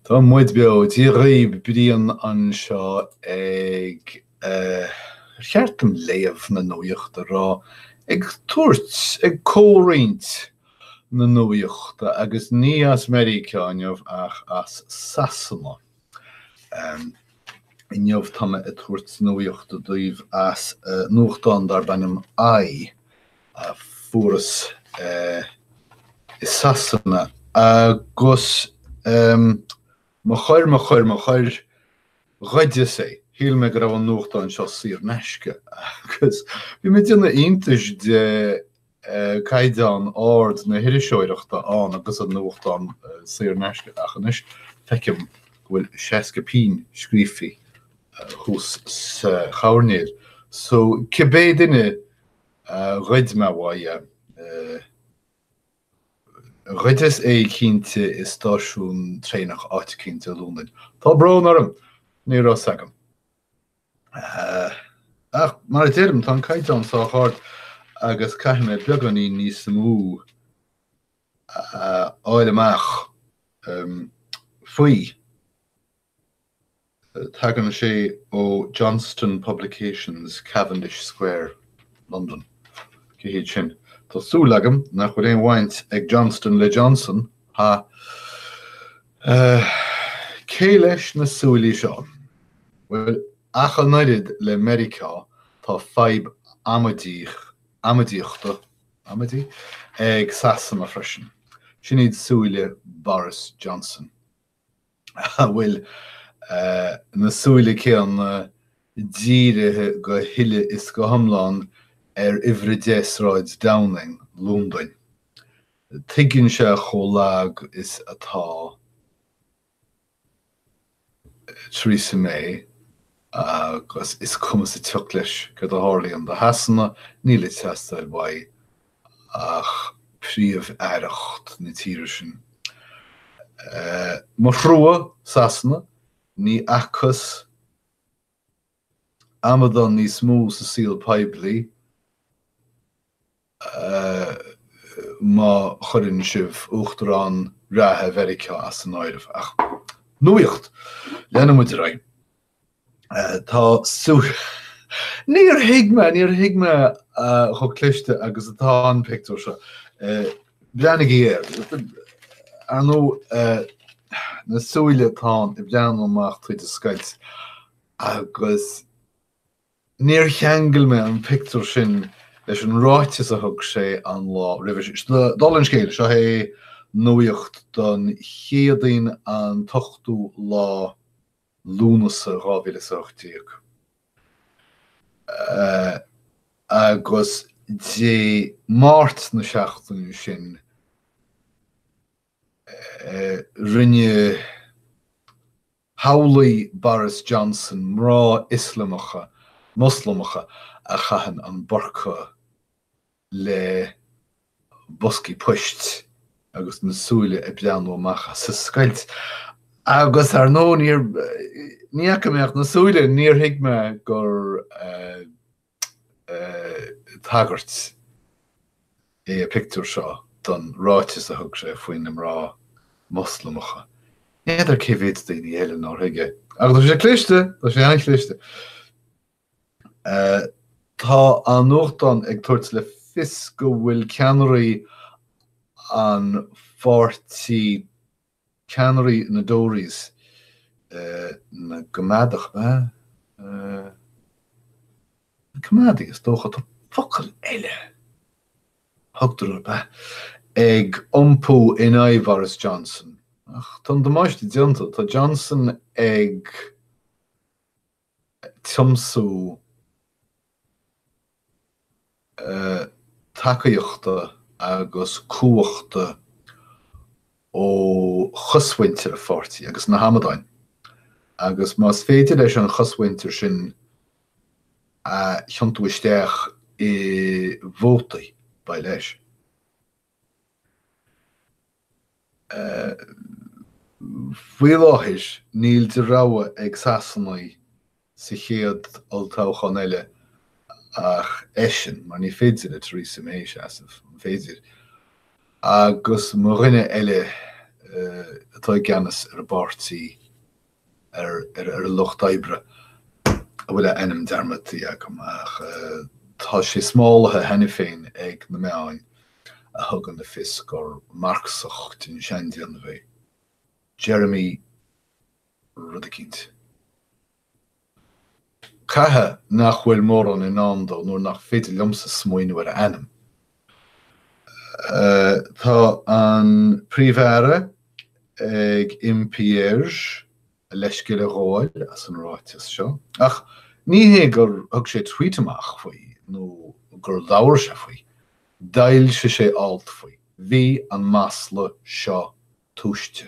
Tá muid beo, Dia dhaoibh, Brian anseo ag eh. ar cheart dom léamh na nuachta rá ag tabhairt ag comhroinnt na nuachta agus ní as Meiriceá inniu ach as Sasana. Em. inniu tá mé ag tabhairt nuachta daoibh as nuachtán darb ainm i. a fuaireas i Sasana agus mo choir, mo choir, mo choir, ghoideas é, shíl mé go raibh an nuachtán seo saor in aisce agus bhí mé ag déanamh iontais de chaighdeán ard na hiriseoireachta ann agus an nuachtán saor in aisce ach anois feicim go bhfuil seasca pingin scríofa thuas sa choirnéal so cibé duine ghoid mé uaidh é. Ghoideas é cinnte i stáisiún traenach áit éicint i Londain. Tá brón orm, ní raibh 's agam. Ach mar a deirim, tá an caighdeán sách ard agus caithfidh mé beagáinín níos mó a fháil amach faoi. Tagann sé ó Johnston Publications, Cavendish Square, Londain. Cé hiad sin? Tá súil agam nach bhfuil aon bhaint ag Johnston le Johnson, ha ha. Cé leis na súilí seo? Bhuel, ach an oiread le Meiriceá, tá fadhb amaidíochta, amaidí? ag Sasana freisin. Sin iad súile Boris Johnson. a bhfuil na súile céanna dírithe go huile is go hiomlán ar Uimhir 10 Sráid Downing, Londain. Tuigeann sé chomh lag is atá Theresa May agus is cuma sa tsioc leis céard a tharlaíonn do Shasana, níl ag teastáil uaidh ach príomh-aireacht na tíre sin. Mo thrua, Sasana, ní fhacthas amadán níos mó sa saol poiblí, má chuireann sibh Uachtarán reatha Mheiriceá as an áireamh. Ach, nuacht! Leanann muid ar aghaidh. Tá súil. Níor thuig mé, níor thuig mé chomh cliste agus atá an pictiúr seo. Breathnaigí air. Ar ndóigh, na súile atá ann ag breathnú amach tríd an scoilt agus níor cheangail mé an pictiúr sin leis an ráiteas a thug sé an lá roimhe sin. Seo dul an scéil, seo é nuaíocht don Chéadaoin an t-ochtú lá Lúnasa 2018, agus Dé Máirt na seachtaine sin rinne shamhlaigh Boris Johnson mná Ioslamacha, Moslamacha a chaitheann an burqa le boscaí poist agus na súile ag breathnú amach as a scoilt agus, ar ndóigh, níor, ní fhaca mé ach na súile, níor thuig mé gur tagairt é an pictiúr seo don ráiteas a thug sé faoi na mná Moslamacha. N'fheadar cé mhéid daoine eile nár thuig é. Ach tá sé cliste, tá sé an-chliste. Tá an nuachtán ag tabhairt le fios go bhfuil ceannairí an pháirtí, ceannairí na dTories, na gCoimeádach, na Coimeádaigh is dócha, tá focal eile a thugtar orthu, ab ea? ag iompú in aghaidh Bhoris Johnson. Ach tá an damáiste déanta, tá Johnson ag. tiomsú tacaíochta agus cumhachta ó chosmhuintir a pháirtí agus na hamadáin agus, más féidir leis an chosmhuintir sin a thiontú isteach i bhótaí, beidh leis. Faoi láthair, níl de rogha ag Sasanaigh sa chéad olltoghchán eile ach eisean, mar ní féidir le Theresa May seasamh, an féidir? agus mo dhuine eile atá i gceannas ar an bpáirtí. ar an lucht oibre a bhfuil a ainm dearmadtaithe agam ach tá sé smálaithe cheana féin ag na meáin a thugann le fios gur Marxach den seandéanamh é Jeremy rud eicínt. Caithfidh nach bhfuil mórán i ndán dó nuair nach féidir liomsa smaoineamh ar a ainm. Tá an Príomh-Aire ag impí air a leithscéal a ghabháil as an ráiteas seo, ach ní hé gur thug sé tweet amach faoi nó gur labhair sé faoi, d'fhoilsigh sé alt faoi. Bhí an masla seo tomhaiste.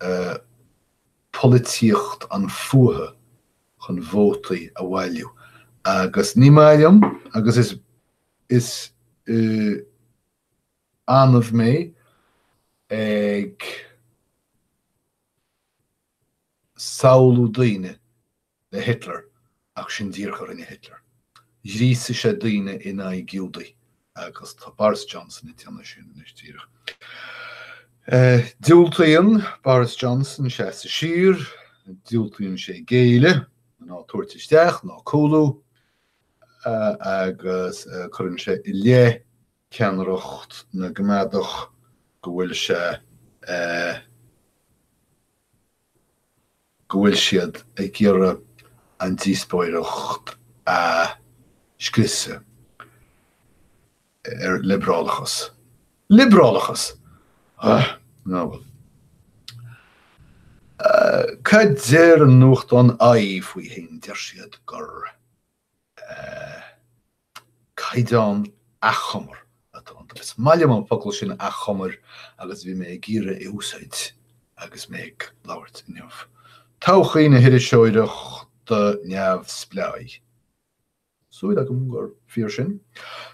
a polaitíocht an fuatha chun vótaí a bhailiú agus ní maith liom agus is is annamh mé ag samhlú daoine le Hitler ach sin díreach a rinne Hitler. Ghríosaigh sé daoine in aghaidh Giúdaigh agus tá Boris Johnson ag déanamh sin anois díreach. Diúltaíonn Boris Johnson seasamh siar, diúltaíonn sé géilleadh ná tabhairt isteach ná cúlú agus cuireann sé i leith ceannaireacht na gCoimeádach go bhfuil sé go bhfuil siad ag iarraidh an díospóireacht a scriosadh ar liobrálachas. Liobrálachas! Ugh! Á bhuel. Cad deir an nuachtán i faoi fhéin? Deir siad gur. caighdeán achomair atá iontu. Is maith liom an focal sin achomair agus bhí mé ag iarraidh é a úsáid agus mé ag labhairt inniu. Todhchaí na hIriseoireachta Neamhspleáiche? Súil agam gur fíor sin.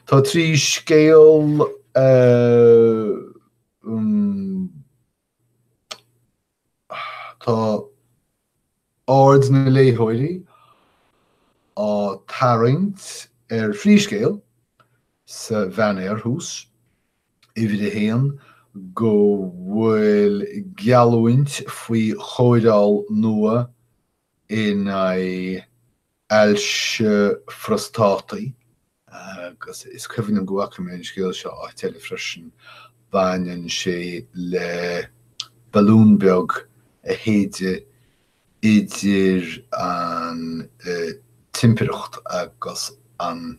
Tá trí scéal Tá aird na léitheoirí á tarraingt ar thrí scéal sa bhanner thuas, uimhir a haon, go bhfuil geallúint faoi chóireáil nua in aghaidh, ailse phróstataigh, agus is cuimhin liom go bhfaca mé an scéal seo áit eile freisin, baineann sé le balún beag a shéideadh idir an timpireacht agus an.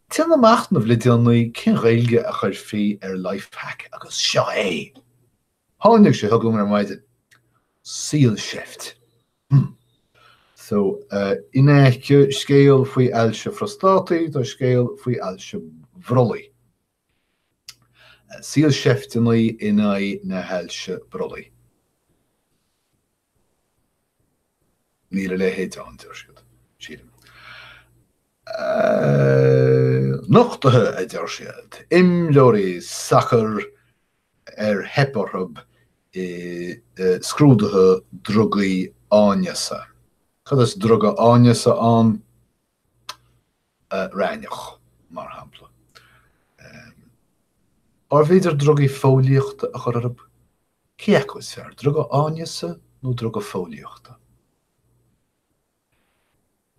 Déanamh machnaimh le déanaí cén Ghaeilge a chuirfí ar lifehack agus seo é! Tháinig sé chugam ar maidin. Saolseift. Hmm. So, in aice scéal faoi ailse phrostátaí, tá scéal faoi ailse bhrollaigh. Saolseifteanna in aghaidh na hailse brollaigh. Níl a leithéid ann, deir siad, sílim. Nochtuithe, a deir siad, imreoirí sacair ar theip orthu i scrúduithe drugaí áineasa. Cad is druga áineasa ann? Raithneach, mar shampla. Arbh fhéidir drugaí fóillíochta a chur orthu? Cé acu is fearr, druga áineasa nó druga fóillíochta?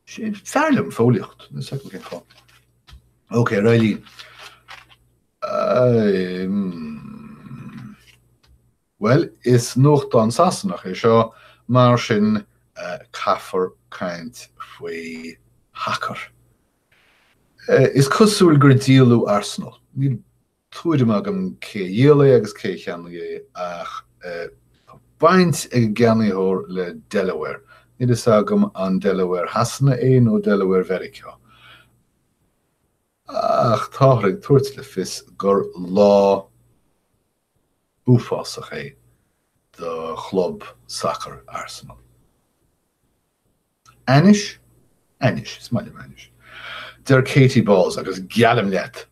Is fearr liom fóillíocht. Is fearr ach cén fáth? OK, Reilly. Well, is nuachtán Sasanach é seo, mar sin uh, caithfear caint faoi shacar. Uh, is cosúil gur díoladh Arsenal. Níl tuairim agam cé a dhíol é agus cé a cheannaigh é ach tá baint ag an gceannaitheoir le Delaware. Níl fhios agam an Delaware Shasana é nó Delaware Mheiriceá ach táthar ag tabhairt le fios gur lá uafásach é do chlub sacair Arsenal. Anois, anois, is maith liom an ainm seo, deir Katie Balls agus geallaim leat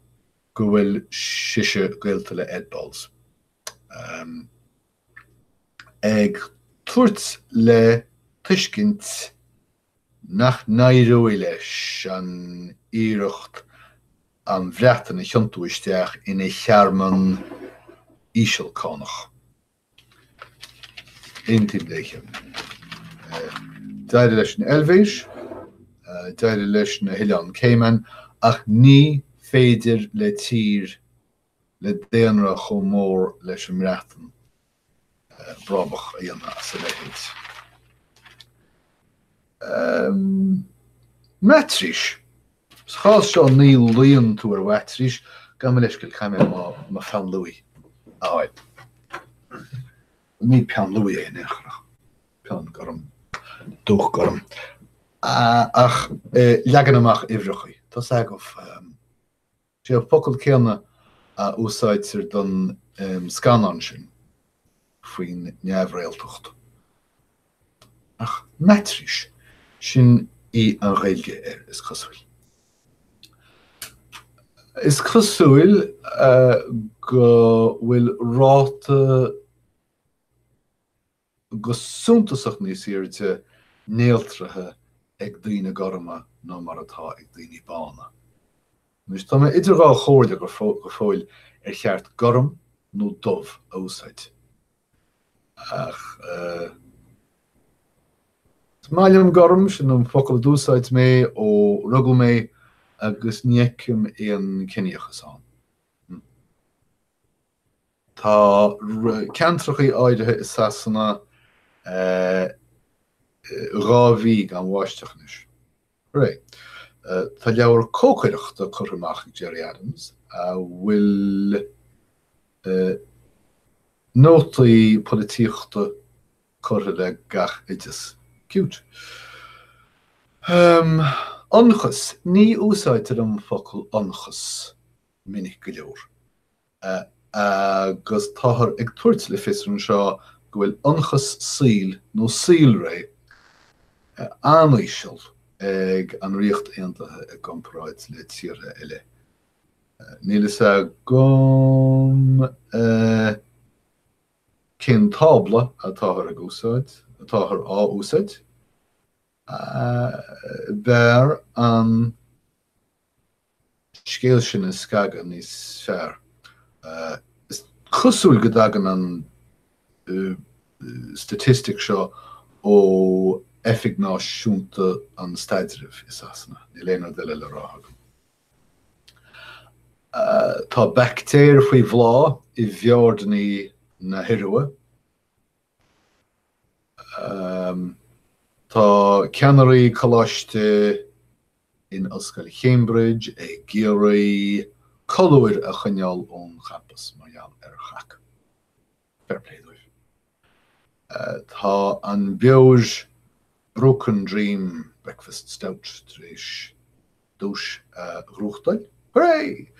go bhfuil sise gaolta le Ed Balls. Ahem. Ag tabhairt le tuiscint nach n-éireoidh leis an iarracht an Bhreatain a thiontú isteach ina thearmann ísealcánach. Aontaím léi. D'éirigh leis an Eilvéis, d'éirigh leis na hOileáin Cayman ach ní féidir le tír le daonra chomh mór leis an mBreatain brabach a dhéanamh as a leithéid. Aaa. Maitrís. Sa chás seo ní luíonn tú ar mhaitrís, gabh mo leithscéal, caithfidh mé mo pheann luaí a fháil. Ní peann luaí é in aon chor ach peann gorm, dúch gorm. Aaa. Ach leagan amach uimhreachaí. Tá 's agaibh. Sé an focal céanna a úsáidtear don scannán sin faoin neamhréaltacht. Ach maitrís, sin í an Ghaeilge air, is cosúil. Is cosúil go bhfuil ráta go suntasach níos airde néaltraithe ag daoine gorma ná mar atá ag daoine bána. Anois, tá mé idir dhá chomhairle go fóill ar cheart 'gorm' nó 'dubh' a úsáid. Ach is maith liom 'gorm', sin an focal a d'úsáid mé ó rugadh mé agus ní fheicim aon ciníochas ann. Tá ceantracha áirithe i Sasana dhá mhí gan bháisteach anois. Right. Tá leabhar cócaireachta curtha amach ag Gerry Adams a bhfuil nótaí polaitíochta curtha le gach oideas. Cute! Ionchas, Ní úsáidtear an focal ionchas minic go leor. agus táthar ag tabhairt le fios anseo go bhfuil ionchas saoil nó saolré an-íseal ag an Ríocht Aontaithe i gcomparáid le tíortha eile. Níl a fhios agam cén tábla atáthar ag úsáid, atáthar á úsáid. B'fhearr an. scéal sin a scagadh níos fearr. Is cosúil go dtagann an statistic seo ó Oifig Náisiúnta an Staidrimh i Sasana, níl aon rud eile le rá agam. Tá baictéir faoi bhláth i bhfiordní na hIorua. Tá ceannairí coláiste in Ollscoil Cambridge ag iarraidh colúir a choinneáil ón champas mar gheall ar chac. Fair play dóibh. Tá an beoir Broken Dream Breakfast Stout tar éis duais a ghnóthachtáil. Hurray!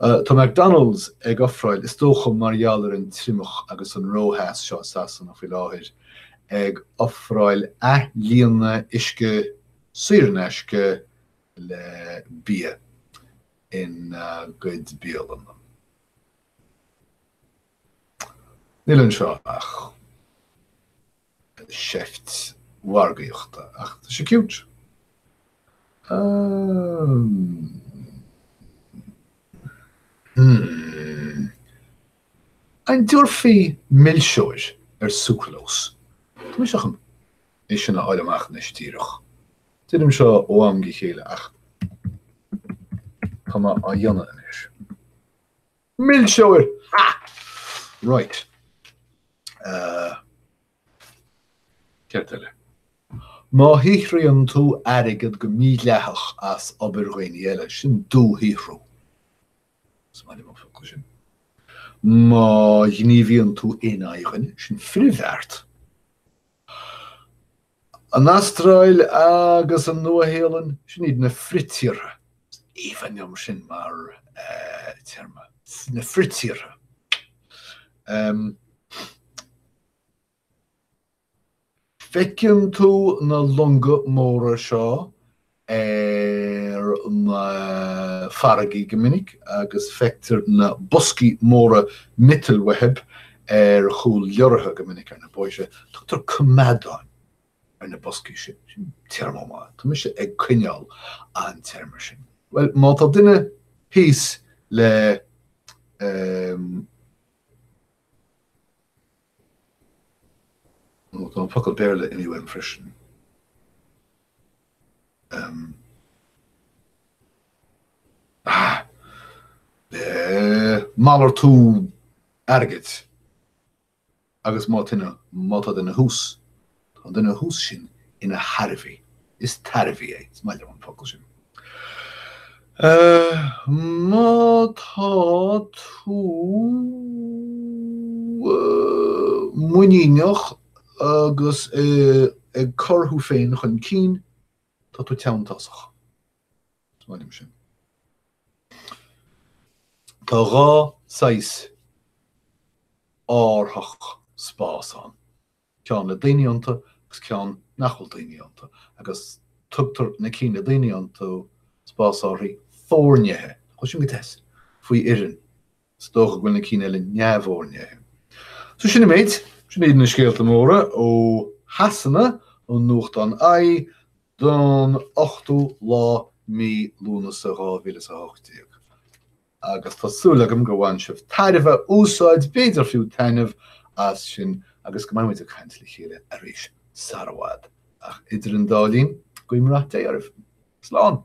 Tá McDonald's ag ofráil, is dócha mar gheall ar an triomach agus an rótheas seo i Sasana faoi láthair, ag ofráil athlíonadh uisce saor in aisce le bia ina gcuid bialanna. Níl anseo ach. sheift mhargaíochta ach tá sé cute. Hmm. An dtiúrfaí milseoir ar sucralós? Tá mise chun é sin a fháil amach anois díreach. Déanaim seo ó am go chéile ach tá mé á dhéanamh anois. Milseoir! Ha! Right. Uh, Ceist eile. Má shaothraíonn tú airgead go mídhleathach as obair dhaoine eile, sin dúshaothrú. Is maith liom an focal sin. Má ghníomhaíonn tú in aghaidh duine, sin frithbheart. An Astráil agus an Nua-Shéalainn, sin iad na fritíortha, aoibhinn liom sin mar téarma, na fritíortha. Feiceann tú na longa móra seo ar na farraigí go minic agus feictear na boscaí móra miotail whebb ar chúl leoraithe go minic ar na bóithre. Tugtar coimeádán ar na boscaí sin. Sin téarma maith. Tá mise ag coinneáil an téarma sin. Bhuel, má tá duine thíos le um, nó tá an focal Béarla inniu ann freisin. malartú airgid agus má tá duine thuas, tá an duine thuas sin ina thairbhí, is tairbhí é, is maith liom an focal sin. má tá tú muiníneach agus ag cur thú féin chun cinn, tá tú teanntásach. Is maith liom sin. Tá dhá saghas árthach spás ann, ceann le daoine iontu agus ceann nach bhfuil daoine iontu, agus tugtar na cinn le daoine iontu spásárthaí foirnithe, nach é sin go deas, faoi fhoireann. Is dócha go bhfuil na cinn eile neamhfhoirnithe. So sin an méid, sin iad na scéalta móra ó Shasana ón nuachtán i don 8ú lá mí Lúnasa 2018. Agus tá súil agam go bhain sibh tairbhe, úsáid, b'fhéidir fiú taitneamh as sin agus go mbeimid ag caint le chéile arís sara bhfad. Ach idir an dá linn, guím rath Dé oraibh. Slán!